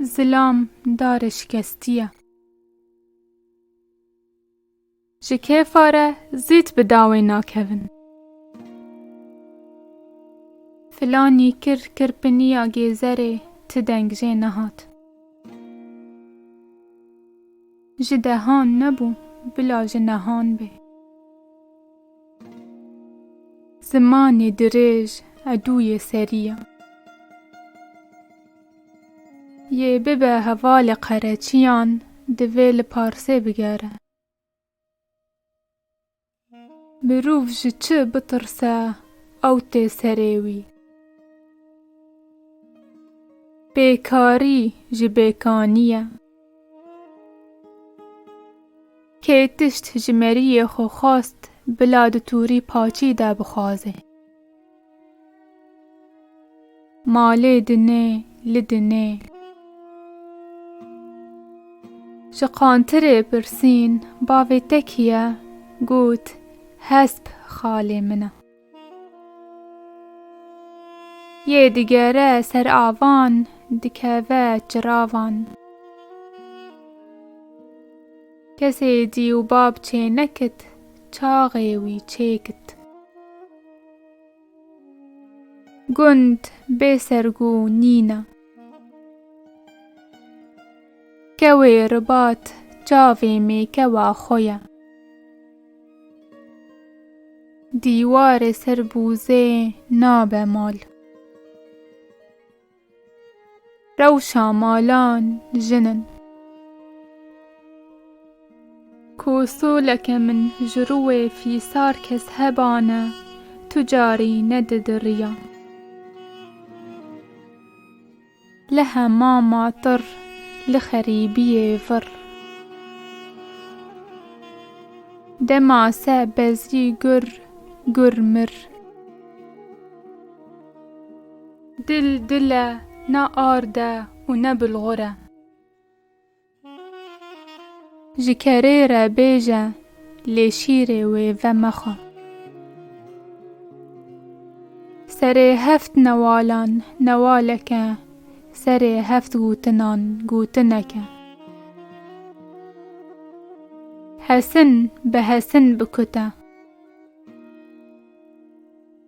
Zilam darê şikestî ye. Ji kêfa re zît bi dawê nakevin. Filanî kir kirpiniya gêzerê ti deng jê nehat. Ji dehan nebû, bila ji nehan bê. Zimanê dirêj edûyê serî ya. Yê bibe hevalê qereçiyan, divê li parsê bigere. Mirov ji çi bitirse ew tê serê wî. Bêkarî ji bêkanî ye. Kê tişt ji meriyê xwe xwast bila di tûrî paçî de bixwaze. Ma lê dinê li dinê. Ji qantirê pirsîn bavê te kî ye? Got, Hesp xalê min e. Yê digere ser avan, dikeve çiravan. Kesê cî û bab çê nekit, çaxê wî çê kit. Gund bê sergû nîn e. Kewê ribat çavê mêkewa xwe ye. Dîwarê ser bûzê nabe mal. Rewşa malan jin in. Ku soleke min ji rûwê fîsar kes heba ne, tu carî ne didiriya. Li hemama tir, li xerîbiyê vir. Dema se bezrî gur, gur mir. Dil dil e, ne ard e û ne bulgur e. Ji kerê re bêje, lê şîrê wê ve mexwe. Serê heft newalan newalek e, serê heft gotinan gotinek e. Hesin bi hesin bikute.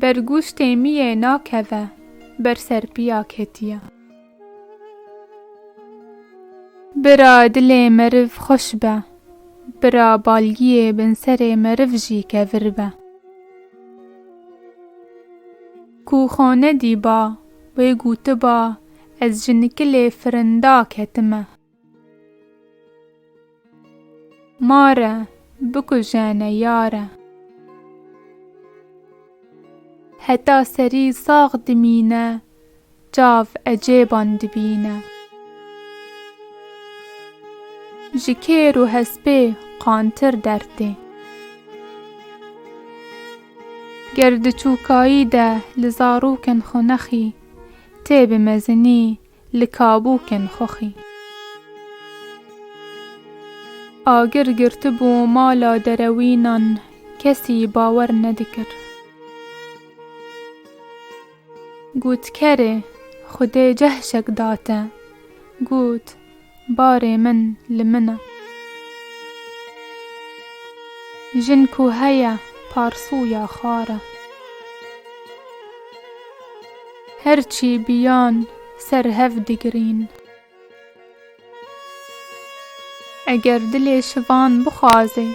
Ber gûz têmiyê nakeve. Ber ser piya ketiye. Bira dilê meriv xweş be. Bira balgiyê bin serê meriv jî kevir be. Ku xwe nedîba, wê gotiba, ez ji nikilê firinda ketime. Mare bikujene yare. Heta serî sax dimîne çav ecêban dibîne. Ji kêr û hespê qantir dert ê. Ger di çûkayî de li zarokên xwe nexî tê bi mezinî Li kabûkên xoxî. Agir girtibû mala derewînan kesî bawer nedikir. Got kerê xwedê cehşek date. Got Barê min li min e. Jin ku heye parsûya xwar e. Her çî biyan ser hev digirîn. Eger dilê şivan bixwazê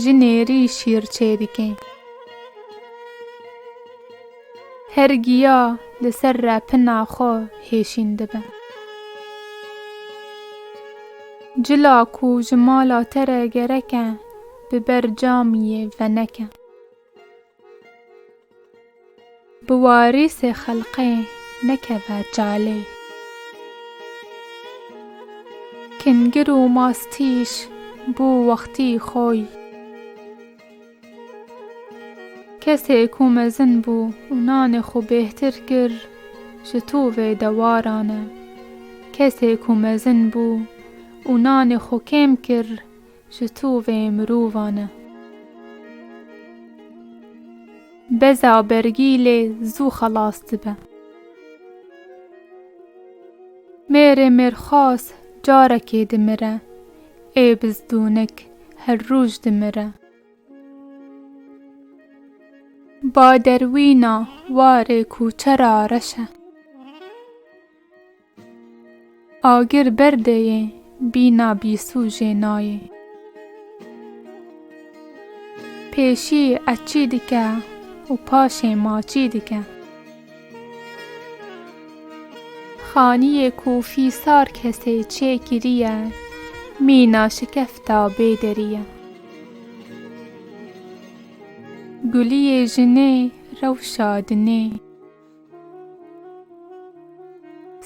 ji nêrî şîr çêdike. Her giya li ser repina xwe hêşîn dibe. Cila ku ji mala te re gereke, bi ber camiyê veneke. Bi warîsê xelqê nekeve çalê. Kingir û mastîş bû wextî xwe yî. Kesê ku mezin bû û nanê xwe bêhtir kir ji to vê dewaran e. Kesê ku mezin bû û nanê xwe kêm kir ji to vê mirovan e. Beza bergî lê zû xelas dibe. Mêrê mêrxas carekê dimire, Ê bizdûnik her roj dimire. Ba derwîna warê kûçe ra reşe. Agir berdê yê bîna bîsûjê nayê. Pêşî eçî dike û paşê maçî dike. Xaniyê ku fîsar kesê çê kiriye, mîna şikefta bê derî ye. Guliyê jinê rewşa dinê.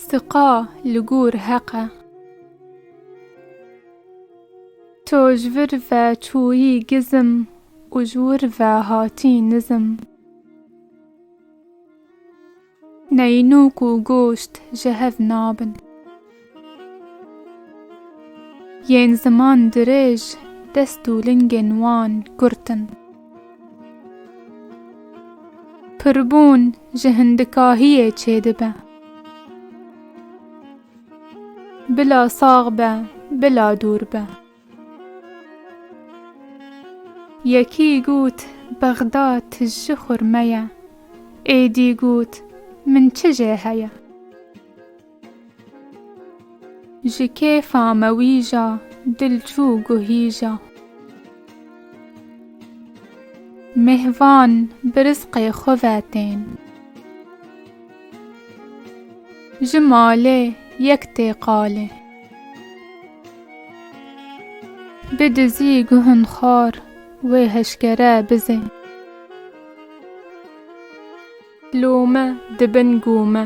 Siqa li gûr heq e. To ji vir ve çûyî gizim û ji wir ve hatî nizim. Neyînok û goşt ji hev nabin. Yên ziman dirêj dest û lingên wan kurt in. Pirbûn ji hindikahiyê çêdibe. Bila sax be, bila dûr be. Yekî got bexda tiji xurme ye. Êdî got min çi jê heye. Ji kêfa me wîja dil çû guhîja. Mêhvan bi rizqê xwe ve tên. Ji malê yek tê qalê. Bi dizî guhun xar wê heşkere bizê. Lûme di bin gûme.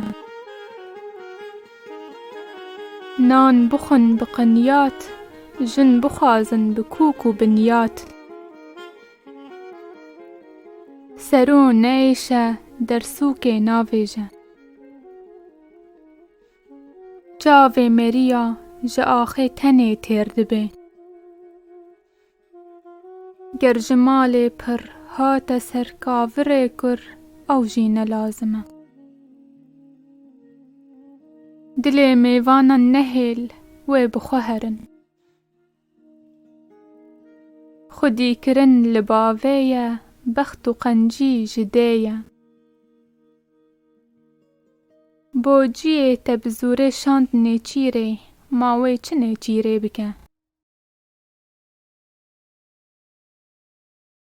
Nan bixwin bi qinyat, jin bixwazin bi kûk û binyat. Sero neyêşe dersûkê navêje. Çavê merîya ji axê tenê têr dibê. Ger ji malê pir hate ser kavirê kur ew jî ne lazim e. Dilê mêvanan nehêl wê bi xwe herin. Xwedî kirin li bavê ye, bext û qencî ji dê ye. Bo ciyê te bi zûrê şand nêçîrê, ma wê çi nêçîrê bike?